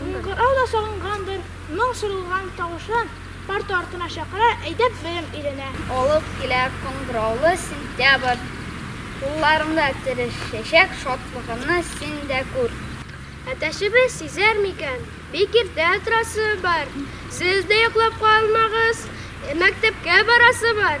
Кыңгырау да сагынгандыр, моң сорылган тавышы парта артына чакыра, әйдәп белем өйрәнә. Алып килә кыңгыраулы сентябрь. Кулларымда тереш чәчәк шатлыгымны син дә күр. Әтәчебез сизәр микән, бик иртә торасы бар, сез дә йоклап калмагыз, мәктәпкә барасы бар.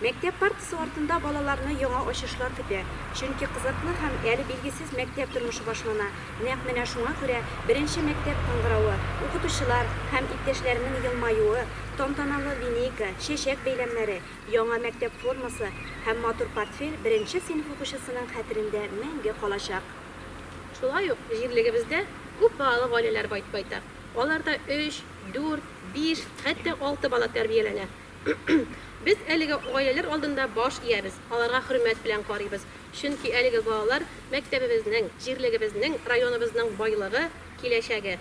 Мәктәп партасы артында балаларны яңа ачышлар көтә, чөнки кызыклы һәм әле билгесез мәктәп тормышы башлана. Нәкъ менә шуңа күрә беренче мәктәп кыңгыравы, укытучылар һәм иптәшләренең елмаюы, тантаналы линейка, чәчәк бәйләмнәре, яңа мәктәп формасы һәм матур портфель беренче сыйныф укучысының хәтерендә мәңге калачак. Шулай ук җирлегебездә күп балалы гаиләләр байтак. Аларда өч, дүрт, биш, хәтта алты бала тәрбияләнә. Без әлеге гаиләләр алдында баш иябез, аларга хөрмәт белән карыйбыз, чөнки әлеге балалар, мәктәбебезнең, җирлегебезнең, районыбызның байлыгы, киләчәге.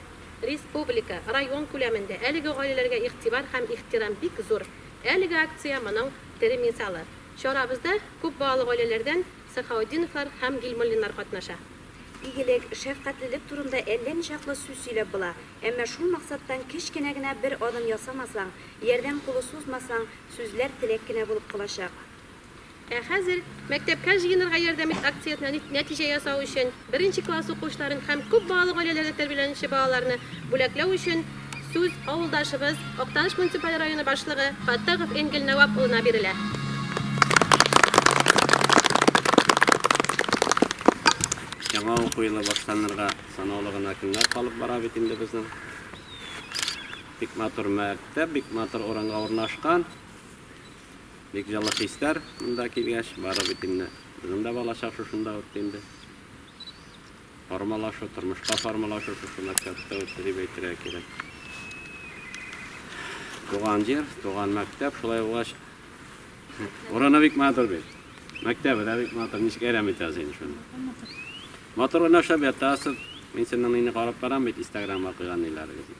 Республика, район күләмендә әлеге гаиләләргә игътибар һәм ихтирам бик зур. Әлеге акция моның тере мисалы. Чарабызда күп балалы гаиләләрдән Сахаутдиновлар һәм Гилмуллиннар катнаша. Игелек, шәфкатьлелек турында әллә ничаклы сүз сөйләп була, әмма шул максаттан кечкенә генә бер адым ясамасаң, Ярдәм кулы сузмасаң, сүзләр теләк кенә булып калачак. Ә хәзер Мәктәпкә җыенырга ярдәм ит! акциясенә нәтиҗә ясау өчен, беренче класс укучыларын һәм күп балалы гаиләләрдә тәрбияләнүче балаларны бүләкләү өчен сүз авылдашыбыз, Актаныш муниципаль районы башлыгы Фаттахов Энгель Нәвап улына бирелә. Яңа уку елы башланырга санаулы гына көннәр калып бара бит инде безнең. Бик матур мәктәп, бик матур урынга урнашкан. Бик җылы хисләр монда килгәч, бары бит инде. Безнең дә балачак шушында үтте инде. Формалашу, тормышка формалашу шушы мәктәптә үтте дип әйтергә кирәк. Туган җир, туган мәктәп, шулай булгач, урыны бик матур бит. Мәктәбе дә бик матур, ничек әрәм итәсез инде шуны. Матур уйнашып ятасыз. Мин сезнең мине карап барам бит, Инстаграмга куйган ниләрегезне.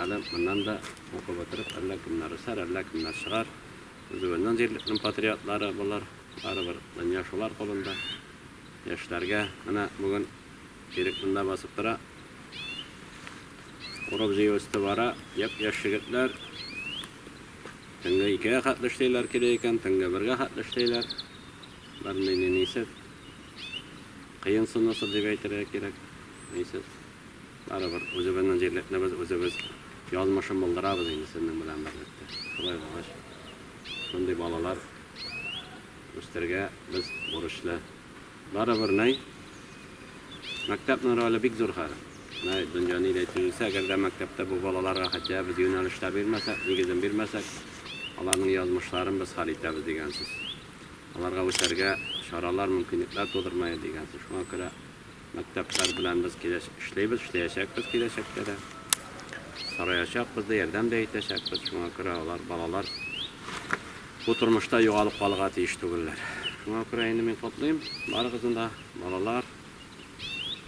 Әле моннан да укып бетереп, әллә кемнәр үсәр, әллә кемнәр чыгар. Үзебезнең җирлекнең патриотлары болар. Барыбер дөнья шулар кулында. Яшьләргә менә бүген Ирек монда басып тора. Урып-җыю өсте бара. Япь-яшь егетләр. Төнге икегә хәтле эшлиләр килә икән, төнге бергә хәтле эшлиләр. Бернинди нисез. Кыен сынусыз дип әйтергә кирәк. Нисез. Барыбер үзебезнең җирлекне без үзебез язмышын булдырабыз инде сезнең белән берлектә. Шулай булгач, шундый балалар үстергә без бурычлы. Барыбер нәй мәктәпнең роле бик зур хәзер. Нәй дөнья ни дә тиелсә, әгәр дә мәктәптә бу балаларга хотя без юнәлештә бирмәсәк, нигезен бирмәсәк, аларның язмышларын без хәл итәбез дигән сүз. Аларга үсәргә чаралар, мөмкинлекләр тудырмая дигән сүз. Шуңа күрә Мәктәпләр белән без киләчәк, эшлибез, эшләячәкбез киләчәктә дә. Сораячакбыз да, ярдәм дә итәчәкбез. Шуңа күрә алар, балалар бу тормышта югалып калырга тиеш түгелләр. Шуңа күрә инде мин котлыйм барыгызны да, балалар,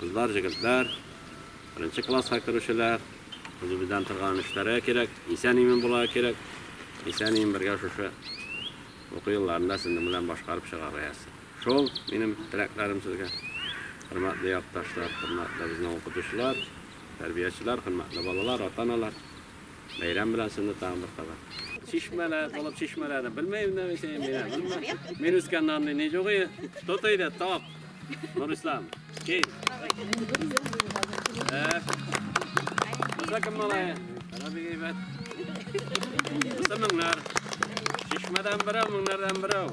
кызлар, җегетләр, беренче класска керүчеләр. Үзебездән торган эшләргә кирәк, исән-имин булырга кирәк. Исән-имин бергә шушы уку елларында сезнең белән башкарып чыгарга язсын. Шул минем теләкләрем сезгә. Хөрмәтле якташлар, хөрмәтле безнең укытучылар, тәрбиячеләр, хөрмәтле балалар, ата-аналар. Бәйрәм белән сезне тагын бер кабат. Чишмәләр, булып чишмәләрне белмәйм дә мин синең менә. Мин үскәннән андый ни юк ие. Тот иде, тап. Нурислам, кил. Э. Буса кем малае? Ана бик әйбәт. Буса меңнәр. Чишмәдән берәү, меңнәрдән берәү.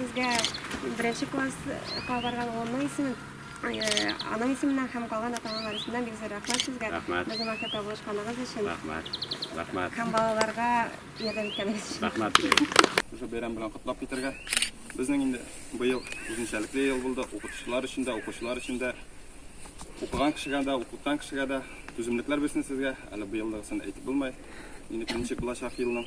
Сезгә беренче класска барган улымның исемен, э, аның исеменнән һәм калган ата-аналар исеменнән бик зур рәхмәт сезгә. Рәхмәт. Безнең мәктәптә булышканыгыз өчен Рәхмәт. Рәхмәт. һәм балаларга ярдәм иткәнегез өчен. Рәхмәт бик. Шушы бәйрәм белән котлап китәргә. Безнең инде быел үзенчәлекле ел булды. Укытучылар өчен дә, укучылар өчен дә, укыган кешегә дә, укыткан кешегә дә түземлекләр бирсен сезгә. Әле быелдагысын әйтеп булмый. Инде беренче булачак елның.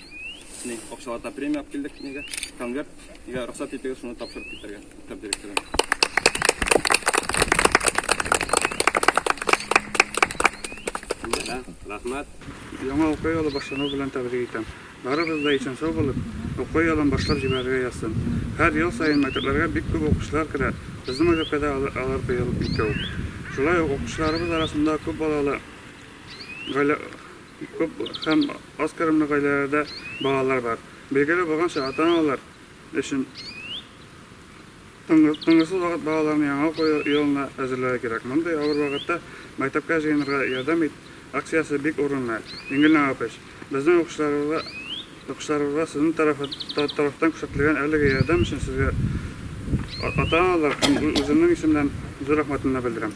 Мин общалата премия алып килдек, нигә? Конверт, нигә рөхсәт итегез, шуны тапшырып китәргә. Мәктәп директоры. Рәхмәт. Яңа уку елы башлану белән тәбрик итәм. Барыбыз да исән-сау булып, уку елын башлап җибәрергә язсын. Һәр ел саен мәктәпләргә бик күп укучылар керә. Безнең мәктәпкә дә алар алар быел ике үк. Шулай ук укучыларыбыз арасында күп балалы гаилә Күп һәм аз керемле гаиләләрдә балалар бар. Билгеле булганча, ата-аналар өчен тынгысыз вакыт балаларны яңа уку елына әзерләүгә кирәк. Мондый авыр вакытта Мәктәпкә җыенырга ярдәм ит! акциясе бик урынлы. Ингелнә апыч, безнең укучыларыбызга сезнең тарафтан күрсәтелгән әлеге ярдәм өчен сезгә ата-аналар һәм үземнең исемнән зур рәхмәтемне белдерәм.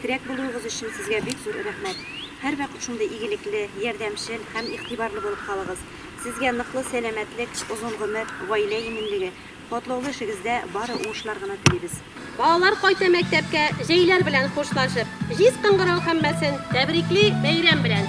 Терәк булуыгыз өчен сезгә бик зур рәхмәт. Һәрвакыт шундый игелекле, ярдәмчел һәм игътибарлы булып калыгыз. Сезгә ныклы сәламәтлек, озын гомер, гаилә иминлеге, катлаулы эшегездә бары уңышлар гына телибез. Балалар кайта мәктәпкә җәйләр белән хушлашып, җиз кыңгырау һәммәсен тәбрикли бәйрәм белән!